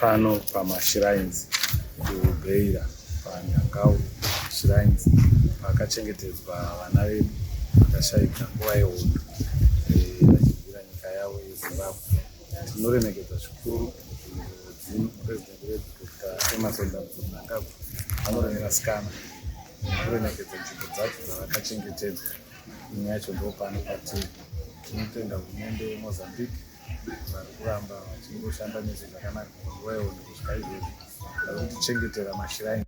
pano pamashrines kubeira panyangau shrines pakachengetedzwa vana vedu vakashaika nguva yehondo eh, vachibvira nyika yavo yezimbabwe Tinoremekedza zvikuru mudzimu president wedu Dr. Emerson Dambudzo Mnangagwa anoremera sikana kuremekedza nzvimbo dzacho dzavakachengetedzwa imwe yacho ndopano patiri tinotenda hurumende yemozambique vari kuramba vachingoshanda nezve zvakanaka nguva yehondo kusvika izvezvi vari kutichengetera mashiraini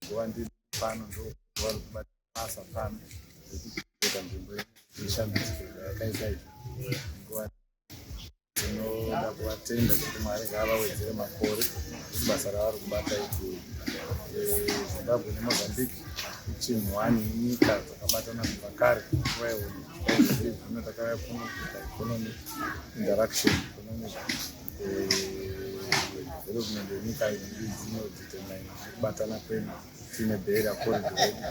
nguva ndiri pano ndokuva rikubata basa pano rekuita nzvimbo yeshambidziko yakaita izvi nguva tinoda kuvatenda kuti mwari ngaavawedzere makore kuti basa ravari kubata iti eh, zimbabwe nemozambique ichinhu wani inyika dzakabatana kubva kare nguva yehono zvino takauya kuno kuita economic interaction economic development yenyika iri dzino determine kubatana kwedu tiine bhera corridor yedu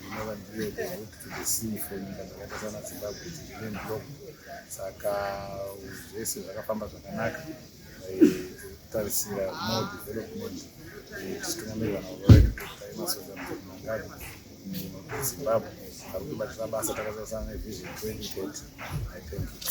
inova ndiyo the root to the sea for nyika dzakaita sana zimbabwe dzine ndlok saka zvese zvakafamba zvakanaka kutarisira more development tichitungamirira navo vedu dr emerson mangadi muzimbabwe vari kubatira basa takazosana nevision 2030 i thank you